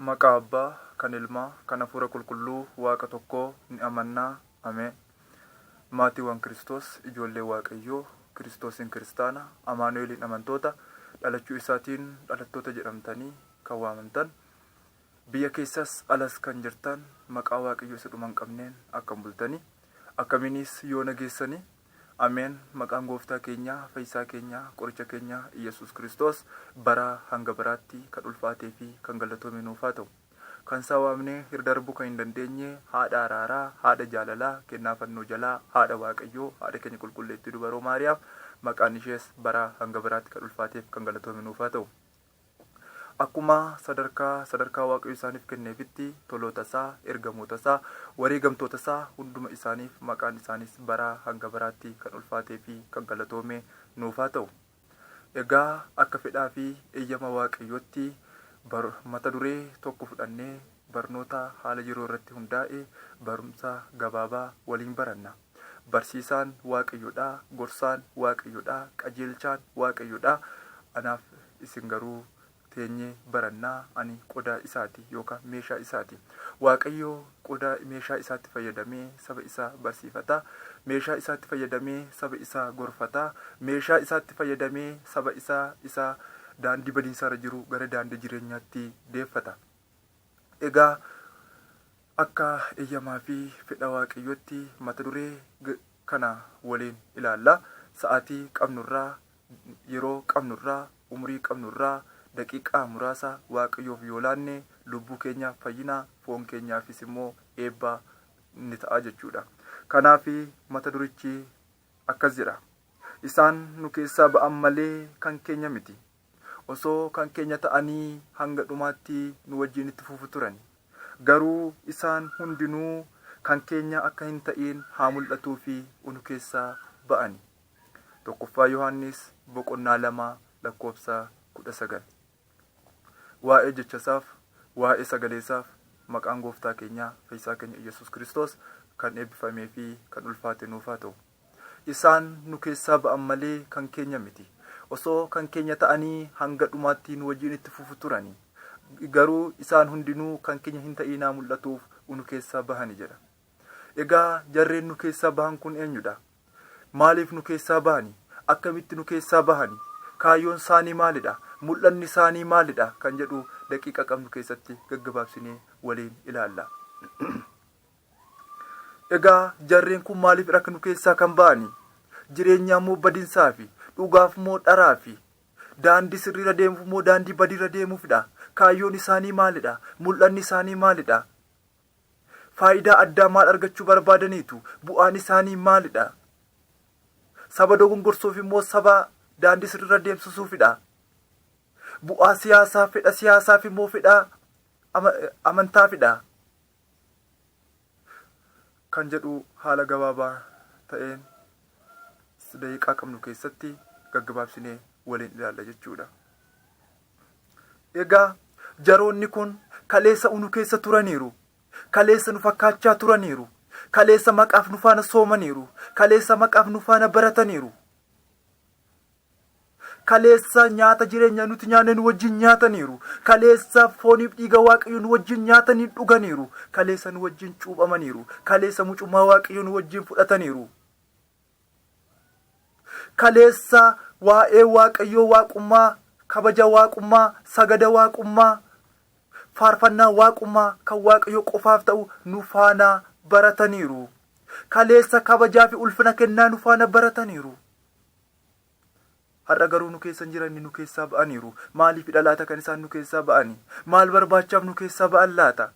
Maqaa Abbaa, kan Ilmaa, kan Hafuura Qulqulluu, Waaqa tokkoo, ni amanna. Ameen. Maatiiwwan Kiristoos, ijoollee Waaqayyoo, Kiristoosiin Kiristaana, Amaanu'eeliin amantoota, dhalachuu isaatiin dhalattoota jedhamtanii kan waamamtan, biyya keessas alas kan jirtan, maqaa Waaqayyoo isa dhuma hin qabneen akkam bultanii? Akkamiinis yoona geessanii? Ameen maqaan gooftaa keenyaa fayyisaa keenyaa qoricha keenyaa iyyasuus kiristoos baraa hanga baraatti kan ulfaatee fi kan gallatome nuuf haa ta'u. Kan isaa waamnee hir darbuu kan hin dandeenyee haadha araaraa haadha jaalalaa kennaa fannoo jalaa haadha waaqayyoo haadha keenya qulqulleettii dubaroo maariyaam maqaan ishees baraa hanga baraatti kan ulfaateef kan galatoome nuuf haa ta'u. Akkuma sadarkaa sadarkaa Waaqayyo isaaniif kenneefitti toloota isaa, ergamoota isaa, wareegamtoota isaa hunduma isaaniif maqaan isaaniis baraa hanga baraatti kan ulfaatee fi kan galatoome nuuf haa ta'u. Egaa akka fedhaa fi eeyyama Waaqayyootti bar mata duree tokko fudhannee barnootaa haala yeroo irratti hundaa'e barumsa gabaabaa waliin baranna. Barsiisaan Waaqayyo dha, gorsaan Waaqayyo dha, qajeelchaan Waaqayyo dha, anaaf isin garuu teenyee baranna, ani qodaa isaati yookaan meeshaa isaati. Waaqayyo qodaa, meeshaa isaatti fayyadamee saba isaa barsiifata, meeshaa isaatti fayyadamee saba isaa gorfata, meeshaa isaatti fayyadamee saba isaa isa daandii badiinsaarra jiru gara daandii jireenyaatti deeffata. Egaa akka eyyamaa fi fedha Waaqayyootti mata duree kana waliin ilaalla. Sa'aatii qabnu irraa, yeroo qabnu irraa, umurii qabnu irraa daqiiqaa muraasa Waaqayyoof yoo laanne lubbuu keenyaaf fayyina, foon keenyaafis immoo eebba ni ta'a jechuudha. Kanaaf mata durichi akkas jedha. Isaan nu keessaa ba'an malee kan keenya miti. Osoo kan keenya ta'anii hanga dhumaatti nu wajjin itti fufu turani. Garuu isaan hundinuu kan keenya akka hin ta'iin haa mul'atuu fi unu keessaa ba'ani. 1ffaa Yohaannis boqonnaa 2 lakkoofsa 19. Waa'ee jecha isaaf, waa'ee sagalee isaaf maqaan gooftaa keenyaa fayyisaa keenya Iyyasuus Kiristoos kan eebbifamee fi kan ulfaate nuuf haa ta'u. Isaan nu keessaa ba'an malee kan keenya miti. Osoo kan keenya ta'anii hanga dhumaatti nu wajjin itti fufu turani. Garuu isaan hundinuu kan keenya hin ta'iinaa mul'atuuf unu keessaa bahani jedha. Egaa jarreen nu keessaa bahan kun eenyudha? Maaliif nu keessaa bahani? Akkamitti nu keessaa bahani? Kaayyoon saanii maalidha? Mul'anni saanii maalidha? Kan jedhu daqiiqa qabnu keessatti gaggabaabsinee waliin ilaalla. Egaa jarreen kun maaliif rakk nu keessaa kan ba'ani? Jireenyaa moo badinsaafi? Dhugaaf moo dharaafi? Daandii sirriirra deemuuf moo daandii badiirra deemuufidha? Kaayyoon isaanii maalidha? Mul'anni isaanii maalidha? Faayidaa addaa maal argachuu barbaadaniitu? Bu'aan isaanii maalidha? Saba dogongorsuufi moo saba daandii sirriirra deemsisuufidha? Bu'aa siyaasaa, fedha siyaasaafi moo fedha amantaafidha? kan jedhu haala gabaabaa ta'een daqiiqaa qabnu keessatti gaggabaabsinee waliin ilaalla jechuudha. Egaa jaroonni kun kaleessa unu keessa turaniiru. Kaleessa nu fakkaachaa turaniiru. Kaleessa maqaaf nu faana soomaniiru. Kaleessa maqaaf nu faana barataniiru. Kaleessa nyaata jireenyaa nuti nyaanne nu wajjin nyaataniiru. Kaleessa fooniif dhiiga Waaqayyo nu wajjin nyaatanii dhuganiiru. Kaleessa nu wajjin cuuphamaniiru. Kaleessa mucummaa Waaqayyo nu wajjin fudhataniiru. Kaleessa waa'ee Waaqayyoo waaqummaa, kabaja waaqummaa, sagada waaqummaa, faarfannaa waaqummaa kan Waaqayyo qofaaf ta'u nu faana barataniiru. Kaleessa kabajaa fi ulfina kennaa nu faana barataniiru. Har'a garuu nu keessa hin jiranni nu keessaa ba'aniiru. Maaliifidha laata kan isaan nu keessaa ba'ani? Maal barbaachaaf nu keessaa ba'an laata?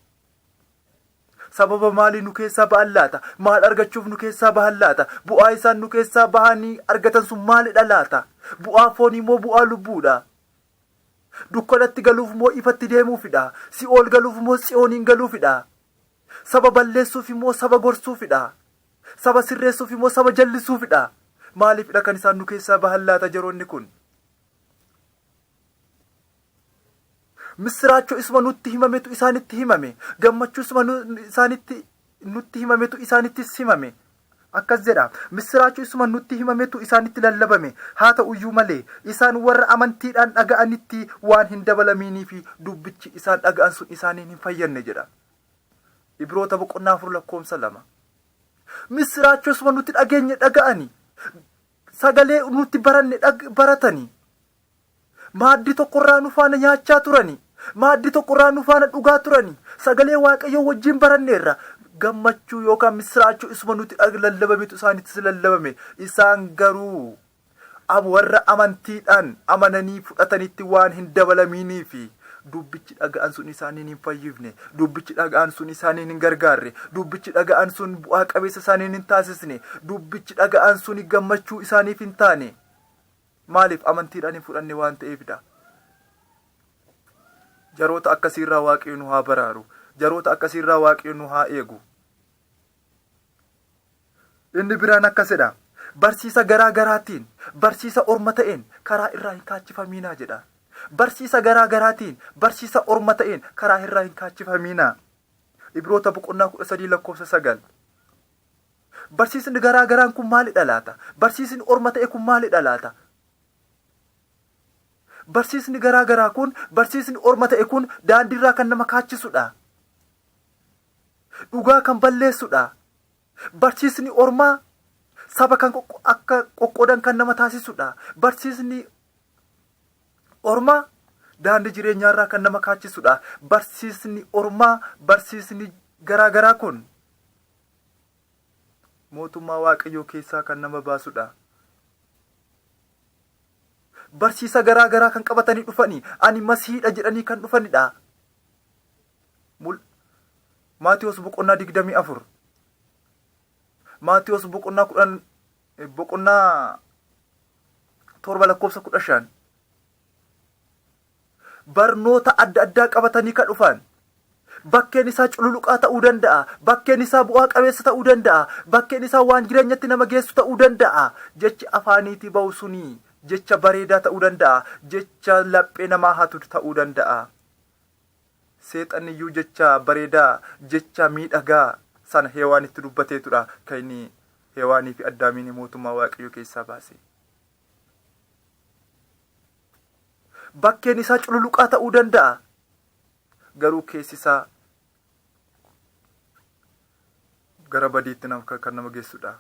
Sababa maalii nu keessaa ba'an laata? Maal argachuuf nu keessaa bahan laata? Bu'aa isaan nu keessaa bahanii argatan sun maalidha laata? Bu'aa foonii moo bu'aa lubbuudha? Dukkanatti galuuf moo ifatti deemuufidha? Si'ool galuuf moo Tsiyooniin galuufidha? Saba balleessuufi moo saba gorsuufidha? Saba sirreessuufi moo saba jallisuufidha? Maaliifidha kan isaan nu keessaa bahan laata jaroonni kun? Missiraachoo isuma nutti himametu isaanitti himame. Gammachuu isuma isaanitti nutti himametu isaanittis himame. Akkas jedha, Missiraachoo isuma nutti himametu isaanitti lallabame. Haa ta'uyyuu malee, isaan warra amantiidhaan dhaga'anitti waan hin dabalamiiniifi dubbichi isaan dhaga'an sun isaaniin hin fayyadne jedha. Ibroota boqonnaa 4 lakkoofsa 2. Missiraachoosuma nuti dhageenye dhaga'ani. Sagalee nuti baranne baratani. Maaddii tokkorraa nu faana nyaachaa turani. Maaddii tokkorraa nu faana dhugaa turani. Sagalee Waaqayyoo wajjin baranneerra. Gammachuu yookaan missiraachoo isuma nuti lallabametu isaanittis lallabame. Isaan garuu Ab warra amantiidhaan amananii fudhatanitti waan hin dabalamiinii fi dubbichi dhaga'an sun isaaniin hin fayyifne, dubbichi dhaga'an sun isaaniin hin gargaarre, dubbichi dhaga'an sun bu'aa qabeessa isaaniin hin taasisne, dubbichi dhaga'an suni gammachuu isaaniif hin taane. Maaliif? Amantiidhaan hin fudhanne waan ta'eef dha. Jaroota akkasii irraa Waaqayyo nu haa baraaru. Jaroota akkasii irraa Waaqayyo nu haa eegu. Inni biraan akkas jedha, Barsiisa garaa garaatiin, barsiisa orma ta'een karaa irraa hin kaachifamiinaa jedha. Barsiisa garaa garaatiin, barsiisa orma ta'een karaa irraa hin kaachifamiinaa. Ibroota boqonnaa 13 lakkoofsa 9. Barsiisni garaa garaan kun maalidha laata? Barsiisni orma ta'e kun maalidha laata? Barsiisni garaa garaa kun, barsiisni orma ta'e kun daandiirraa kan nama kaachisudha. dhugaa kan balleessu dha. Barsiisni ormaa saba kan akka qoqqoodan kan nama taasisu dha. Barsiisni ormaa daandii jireenyaa irraa kan nama kaachisu dha. Barsiisni ormaa barsiisni garaa garaa kun mootummaa waaqayyoo keessaa kan nama baasu dha. Barsiisa garaa garaa kan qabatanii dhufanii ani masihiidha jedhanii kan dhufanidha. Mul. Maatewos boqonnaa digdamii afur. Maatewos boqonnaa kudhan boqonnaa torba lakkoofsa kudha shan. Barnoota adda addaa qabatanii kan dhufan. Bakkeen isaa cululuqaa ta'uu danda'a. Bakkeen isaa bu'aa qabeessa ta'uu danda'a. Bakkeen isaa waan jireenyatti nama geessu ta'uu danda'a. Jechi afaaniitii ba'u suni jecha bareedaa ta'uu danda'a. Jecha laphee namaa hatu ta'uu danda'a. Seexanniyyuu jecha bareedaa, jecha miidhagaa sana Hewaanitti dubbateetudha kan inni Hewaaniifi Addaamiin mootummaa Waaqayyoo keessaa baase. Bakkeen isaa cululuqaa ta'uu danda'a. Garuu keessi isaa gara badiitti nam- kan kan nama geessudha.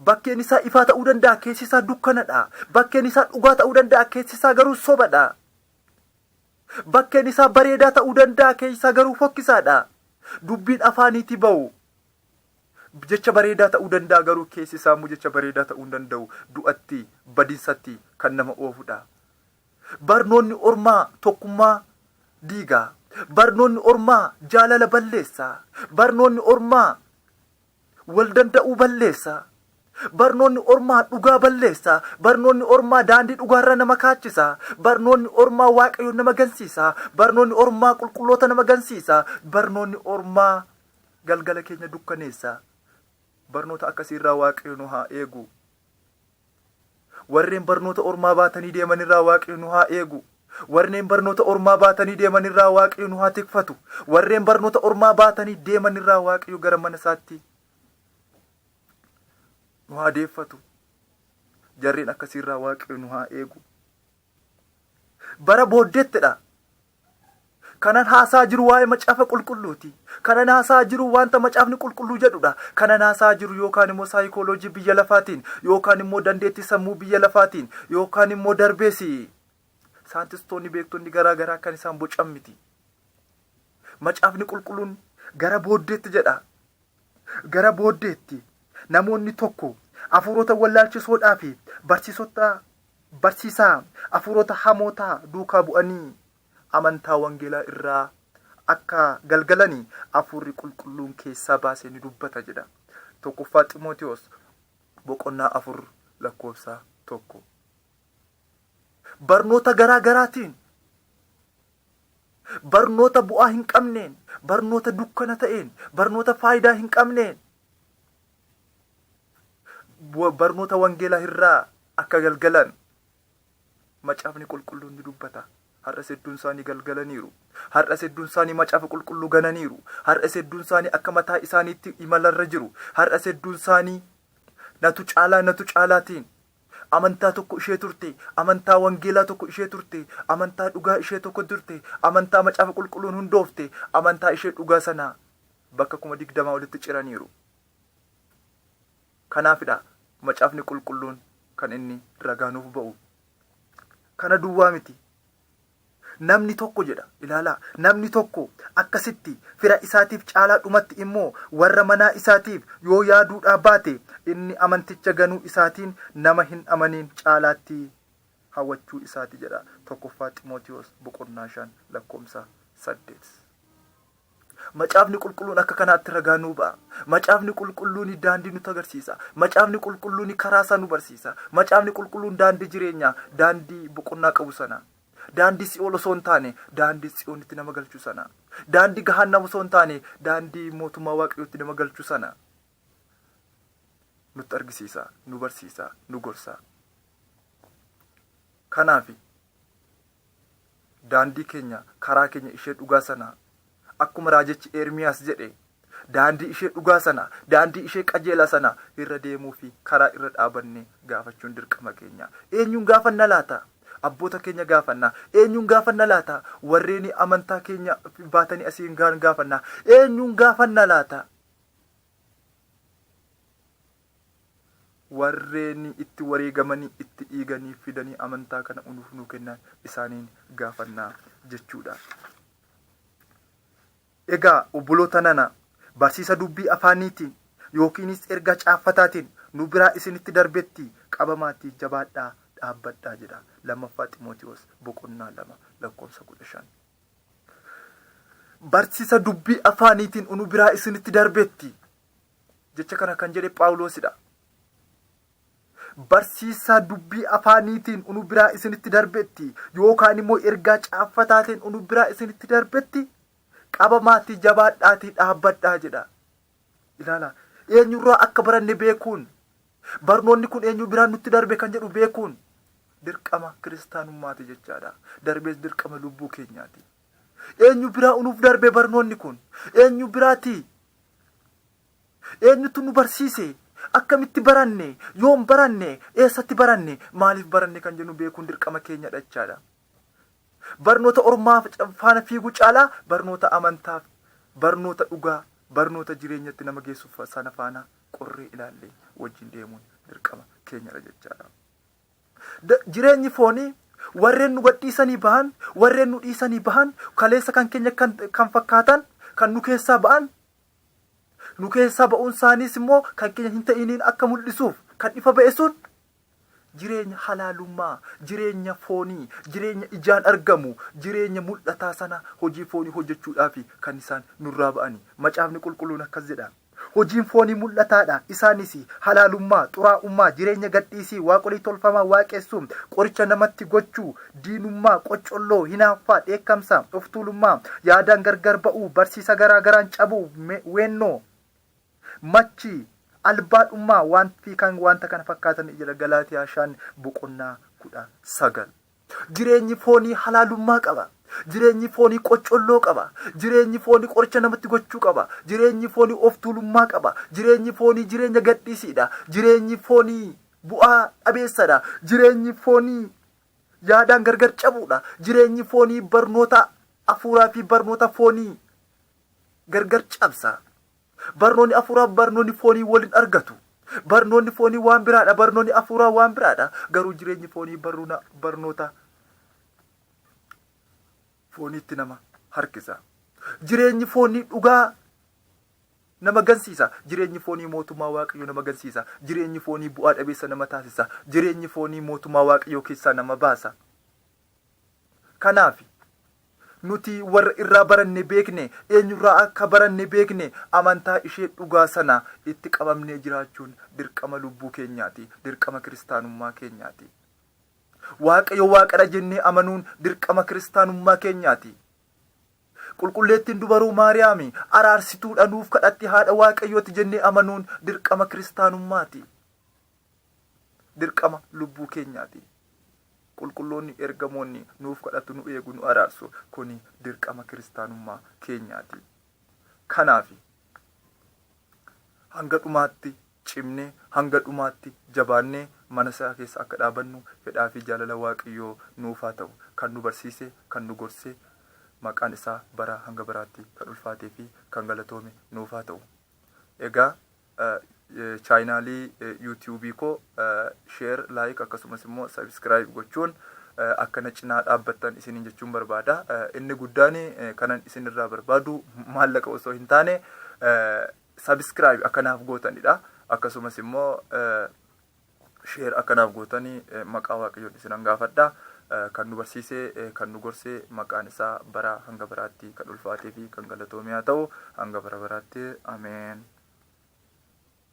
Bakkeen isaa ifaa ta'uu danda'a, keessi isaa dukkanadha. Bakkeen isaa dhugaa ta'uu danda'a, keessi isaa garuu sobadha. Bakkeen isaa bareedaa ta'uu danda'a keessaa garuu fokkisaadha. Dubbiin afaaniitii ba'u jecha bareedaa ta'uu danda'a garuu keessi isaa immoo jecha bareedaa ta'uu hin danda'u. Du'atti, badinsatti kan nama oofudha. Barnoonni ormaa tokkummaa diiga. Barnoonni ormaa jaalala balleessa. Barnoonni ormaa wal danda'uu balleessa. Barnoonni ormaa dhugaa balleessa. Barnoonni ormaa daandii dhugaarraa nama kaachisa. Barnoonni ormaa Waaqayyoon nama gansiisa. Barnoonni ormaa qulqulloota nama gansiisa. Barnoonni ormaa galgala keenya dukkaneessa. Barnoota akkasiirraa Waaqayyo nu haa eegu. Warreen barnoota ormaa baatanii deeman irraa Waaqni nu haa eegu. Warreen barnoota ormaa baatanii deeman irraa Waaqayyo nu haa tikfatu. Warreen barnoota ormaa baatanii deeman irraa Waaqayyo gara mana isaatti nu haa deeffatu. Jarreen akkasii irraa Waaqayyo nu haa eegu. Bara booddeettidha. Kanan haasa'aa jiru waa'ee Macaafa Qulqulluuti. Kanan haasa'aa jiru wanta Macaafni Qulqulluu jedhudha. Kanan haasa'aa jiru yookaan immoo saayikooloojii biyya lafaatiin, yookaan immoo dandeettii sammuu biyya lafaatiin, yookaan immoo darbees saayintistoonni beektonni garaa garaa kan isaan bocan miti. Macaafni Qulqulluun gara booddeetti jedha. Gara booddeetti, namoonni tokko hafuurota wallaalchisoodhaa fi barsiisota barsiisaa hafuurota hamootaa duukaa bu'anii amantaa wangeelaa irraa akka galgalani Hafuurri Qulqulluun keessaa baasee ni dubbata jedha. 1ffaa Ximootiwoos boqonnaa 4 lakkoofsa 1. Barnoota garaa garaatiin Barnoota bu'aa hin qabneen, barnoota dukkana ta'een, barnoota faayidaa hin qabneen bu- barnoota wangeelaa irraa akka galgalan macaafni qulqulluun ni dubbata. Har'as hedduun isaanii galgalaniiru. Har'as hedduun isaanii macaafa qulqulluu gananiiru. Har'as hedduun isaanii akka mataa isaaniitti imalarra jiru. Har'as hedduun isaanii natu caalaa natu caalaatiin Amantaa tokko ishee turte, amantaa wangeelaa tokko ishee turte, amantaa dhugaa ishee tokko turte, amantaa macaafa qulqulluun hundoofte, amantaa ishee dhugaa sana bakka kuma digdamaa olitti ciraniiru. Kanaafidha macaafni qulqulluun kan inni ragaa nuuf ba'u. Kana duwwaa miti. Namni tokko jedha, ilaalaa, namni tokko akkasitti fira isaatiif caalaa dhumatti immoo warra manaa isaatiif yoo yaaduudhaa baate, inni amanticha ganuu isaatiin nama hin amaniin caalaatti hawachuu isaati jedha 1ffaa Ximootiwoos boqonnaa 5 lakkoomsa 8. Macaafni Qulqulluun akka kanaatti ragaa nuu ba'a. Macaafni Qulqulluun daandii nutti agarsiisa. Macaafni Qulqulluun karaa isaa nu barsiisa. Macaafni Qulqulluun daandii jireenyaa, daandii boqonnaa qabu sana, daandii si'ool osoo hin taane, daandii Tsiyoonitti nama galchu sana, daandii gahaannam osoo hin taane, daandii mootummaa Waaqayyootti nama galchu sana nutti argisiisa, nu barsiisa, nu gorsa. Kanaaf Daandii keenya, karaa keenya ishee dhugaa sana akkuma raajichi Eermiyaas jedhe daandii ishee dhugaa sana, daandii ishee qajeelaa sana irra deemuu fi karaa irra dhaabanne gaafachuun dirqama keenya. Eenyuun gaafanna laata? Abboota keenya gaafanna. Eenyuun gaafanna laata? Warreen amantaa keenya baatanii asiin gahan gaafanna. Eenyuun gaafanna laata? warreen itti wareegamanii itti dhiiganii fidanii amantaa kana unuuf nuu kennan isaaniin gaafannaa jechuudha. Egaa obboloota nana barsiisa dubbii afaaniitiin yookiinis ergaa caaffataatiin nu biraa isinitti darbetti qabamaatii jabaadhaa dhaabbadhaa jedha lammaffaa Ximootiwoos boqonnaa lama lakkoofsa kudha shan. Barsiisa dubbii afaaniitiin nu biraa isinitti darbetti Jecha kana kan jedhe Phaawuloosidha. Barsiisaa dubbii afaaniitiin unu biraa isinitti darbetti yookaan immoo ergaa caaffataatiin unu biraa isinitti darbetti qabamaatii jabaadhaatii dhaabbadhaa jedha. Ilaala. Eenyurraa akka baranne beekuun barnoonni kun eenyu biraan nutti darbe kan jedhu beekuun dirqama kiristaanummaati jechaadha. Darbees dirqama lubbuu keenyaati. Eenyu biraa unuuf darbe barnoonni kun? Eenyu biraati? Eenyutu nu barsiise? Akkamitti baranne? Yoom baranne? Eessatti baranne? Maaliif baranne kan jennu beekuun dirqama keenyadha jechaadha. Barnoota ormaa faana fiiguu caalaa barnoota amantaaf, barnoota dhugaa, barnoota jireenyatti nama geessu sana faana qorree ilaallee wajjin deemuun dirqama keenyadha jechaadha. D. Jireenyi foonii warreen nu gadhiisanii bahan, warreen nu dhiisanii bahan, kaleessa kan keenya kan kan fakkaatan kan nu keessaa ba'an, nu keessaa ba'uun isaaniis immoo kan keenya hin ta'iniin akka mul'isuuf kan ifa ba'e sun jireenya halaalummaa, jireenya foonii, jireenya ijaan argamu, jireenya mul'ataa sana hojii foonii hojjechuudhaaf kan isaan nurraa ba'ani. Macaafni Qulqulluun akkas jedha. Hojiin foonii mul'ataa dha, isaanis, halaalummaa, xuraa'ummaa, jireenya gadhiisii, waaqolii tolfamaa waaqessuu, qoricha namatti gochuu, diinummaa, qoccolloo, hinaaffaa, dheekkamsa, of tuulummaa, yaadaan gargar ba'uu, barsiisa garaa garaan cabuu, me, weennoo, machii, albaadhummaa, wan, fi kan wanta kana fakkaatan jedha Galaatiyaa 5 boqonnaa 19. Jireenyi foonii halaalummaa qaba. Jireenyi foonii qoccolloo qaba. Jireenyi foonii qoricha namatti gochuu qaba. Jireenyi foonii of tuulummaa qaba. Jireenyi foonii jireenya gadhiisiidha. Jireenyi foonii bu'aa dhabeessadha. Jireenyi foonii yaadaan gargar cabuudha. Jireenyi foonii barnoota afuuraa fi barnoota foonii gargar cabsa. Barnooni afuuraaf barnooni foonii wal hin argatu. Barnooni foonii waan biraadha barnooni afuuraa waan biraadha. Garuu jireenyi foonii barruuna barnoota fooniitti nama harkisa. Jireenyi foonii dhugaa nama gansiisa. Jireenyi foonii mootummaa Waaqayyoo nama gansiisa. Jireenyi foonii bu'aa dhabeessa nama taasisa. Jireenyi foonii mootummaa Waaqayyoo keessaa nama baasa. Kanaafi, nuti warra irraa baranne beekne, eenyurraa akka baranne beekne, amantaa ishee dhugaa sana itti qabamnee jiraachuun dirqama lubbuu keenyaati, dirqama kiristaanummaa keenyaati. Waaqayyo Waaqadha jennee amanuun dirqama kiristaanummaa keenyaati. Qulqulleettiin Dubaroo Maariyaami araarsituudha, nuuf kadhatti, haadha Waaqayyooti jennee amanuun dirqama kiristaanummaati. Dirqama lubbuu keenyaati. Qulqulloonni ergamoonni nuuf kadhatu, nu eegu, nu araarsu. Kuni dirqama kiristaanummaa keenyaati. Kanaafi, hanga dhumaatti cimnee, hanga dhumaatti jabaannee mana isaa keessa akka dhaabannu fedhaa fi jaalala Waaqayyoo nuuf haa ta'u. Kan nu barsiise, kan nu gorse, maqaan isaa baraa hanga baraatti kan ulfaatee fi kan galatoome nuuf haa ta'u. Egaa chaayinaalii yuutiyuubii koo sheer laayik akkasumas immoo sabiskiraayib gochuun akka na cinaa dhaabbattan isiniin jechuun barbaada. Inni guddaan kanan isinirraa barbaadu maallaqa osoo hin taane sabiskiraayib akka naaf gootanidha. Akkasumas immoo share akka naaf gootani maqaa waaqayyoon isinan gaafadha. Kan nu barsiise, kan nu gorse maqaan isaa baraa hanga baraatti kan ulfaatee fi kan galatoomee haa ta'u hanga bara baraatti. Ameen.